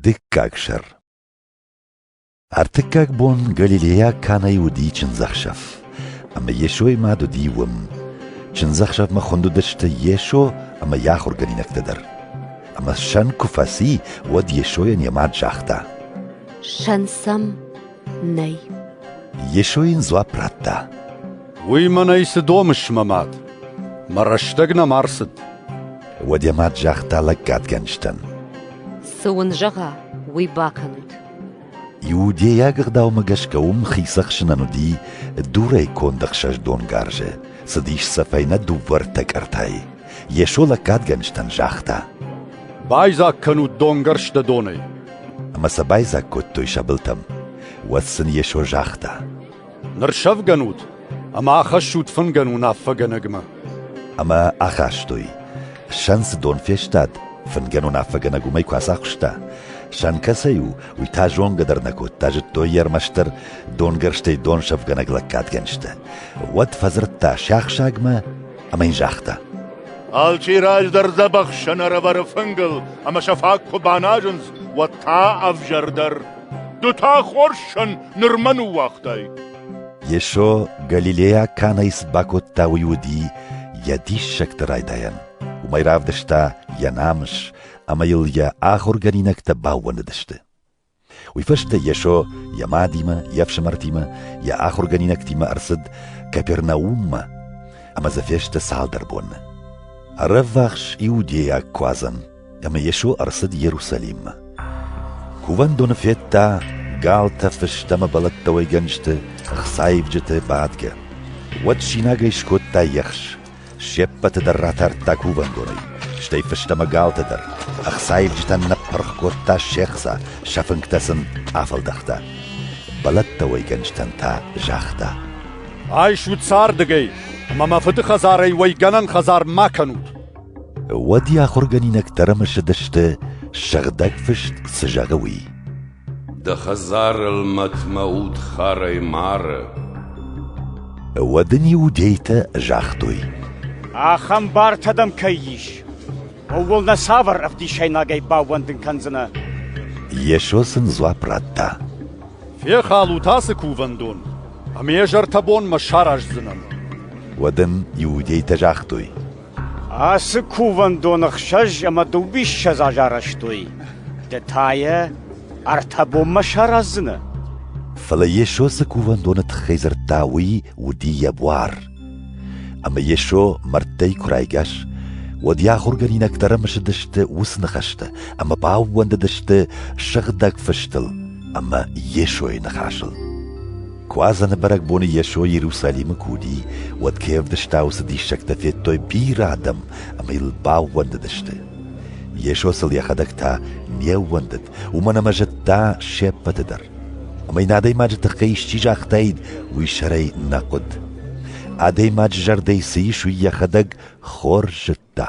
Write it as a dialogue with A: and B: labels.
A: Дыккаг сӕр Ӕртыккаг бон галилейаг кӕнӕй уыди чындзӕхсӕв, ӕмӕ Йесойы мад уыди уым. Чындзӕхсӕвмӕ хуынд уыдысты Йесо ӕмӕ йӕ ахуыргӕнинӕгтӕ дӕр. Ӕмӕ сӕн куы фӕци, уӕд Йесойӕн йӕ мад загъта: «Сӕн
B: сӕм, Нӕй. Йесо
A: йын дзуапп радта. Уый
C: мӕнӕй цы домыс, мӕ мад? Мӕ рӕстӕг нӕм ӕрцыд. Уӕд йӕ
A: мад загъта лӕггадгӕнджытӕн. Цы уын
B: зӕгъа, уый бакӕнут.
A: Иудейаг ӕгъдаумӕ гӕсгӕ уым хицӕхсынӕн уыди дурӕй конд ӕхсӕз донгарзы, цыдис сӕ фӕйнӕ дыууӕ ртӕ кӕртӕй. Йесо лӕггадгӕнджытӕн загъта: «Байдзаг
C: кӕнут донгӕрзтӕ донӕй!» Ӕмӕ сӕ
A: байдзаг кодтой сӕ былтӕм. Уӕд сын Йесо загъта: «Ныр
C: сӕвгӕнут ӕмӕ ахӕссут фынгӕн уынаффӕгӕнӕгмӕ». Ӕмӕ
A: ахастой. Сӕн цы дон фестад, фынгӕн уынаффӕгӕнӕг уымӕй куы ацахуыста, сӕн кӕцӕй у, уый та зонгӕ дӕр нӕ кодта, зыдтой йӕ ӕрмӕстдӕр донгӕрзтӕй донсӕфгӕнӕг лӕггадгӕнджытӕ. Уӕд фӕдзырдта сиахсагмӕ ӕмӕ йын загъта. Алчи
D: раздӕр дзӕбӕхсӕн ӕрӕвӕры фынгыл, ӕмӕ сӕ фаг куы баназынц, уӕд та ӕвзӕрдӕр. Ды та хорзсӕн нырмӕ ныууагътай. Йесо
A: галилейаг кӕнӕй цы бакодта, уый уыди йӕ диссӕгты райдайӕн. Уымӕй равдыста йӕ намыс, ӕмӕ йыл йӕ ахуыргӕнинӕгтӕ баууӕндыдысты. Уый фӕстӕ Йесо йӕ мадимӕ, йе фсымӕртимӕ, йӕ ахуыргӕнинӕгтимӕ ӕрцыд Капернауммӕ ӕмӕ дзы фесты цалдӕр бонны. Ӕрӕввахс иудейаг куадзӕн, ӕмӕ Йесо ӕрцыд Иерусалиммӕ. Кувӕндоны федта галтӕ фыстӕмӕ бӕлӕттӕуӕйгӕнджыты ӕхцаивджыты бадгӕ. Уӕд синагӕй скодта ехс, се ппӕты дӕр ратардта кувӕндонӕй, стӕй фӕстӕмӕ галтӕ дӕр. Ӕхцаивджытӕн ныппырх кодта се хца, сӕ фынгтӕ сын афӕлдӕхта. Бӕлӕттӕ уӕйгӕнджытӕн та загъта: «Айсут
C: сӕ ардыгӕй, ӕмӕ мӕ фыды хӕдзарӕй уӕйгӕнӕн хӕдзар ма кӕнут!» Уӕд
A: йӕ ахуыргӕнинӕгтӕ ӕрымысыдысты, сыгъдӕг фыст цы зӕгъы, уый. Дӕ
E: хӕдзарыл мӕтмӕ удхарӕй мары.
A: Уӕд ын иудейтӕ загътой. Ахӕм
F: бартӕ дӕм кӕй ис, ууыл нӕ цавӕр ӕвдисӕйнагӕй баууӕндын кӕндзынӕ? Йесо
A: сын дзуапп радта. Фехалут
C: ацы кувӕндон, ӕмӕ йӕ зӕрдӕбонмӕ сараздзынӕн. Уӕд ын
A: иудейтӕ загътой. Ацы
F: кувӕндон ӕхсӕз ӕмӕ дыууиссӕдз аз арӕзтой, ды та йӕ ӕртӕ бонмӕ сараздзынӕ. Фӕлӕ
A: Йесо цы кувӕндоны тыххӕй дзырдта, уый уыди йӕ буар. Ӕмӕ Йесо мӕрдтӕй куы райгас, уӕд йӕ ахуыргӕнинӕгтӕ ӕрымысыдысты уыцы ныхӕстӕ ӕмӕ баууӕндыдысты Сыгъдӕг Фыстыл ӕмӕ Йесойы ныхасыл. Куадзӕны бӕрӕгбоны Йесо Иерусалимы куы уыди, уӕд кӕй ӕвдыста, уыцы диссӕгтӕ федтой бирӕ адӕм ӕмӕ йыл баууӕндыдысты. Йесо сыл йӕхӕдӕг та не ууӕндыд, уымӕн ӕмӕ зыдта се ппӕты дӕр. Ӕмӕ йын адӕймаджы тыххӕй исчи загътаид, уый сӕрӕй нӕ хъуыд. Адӕймаджы зӕрдӕйы цы ис, уый йӕхӕдӕг хорз зыдта.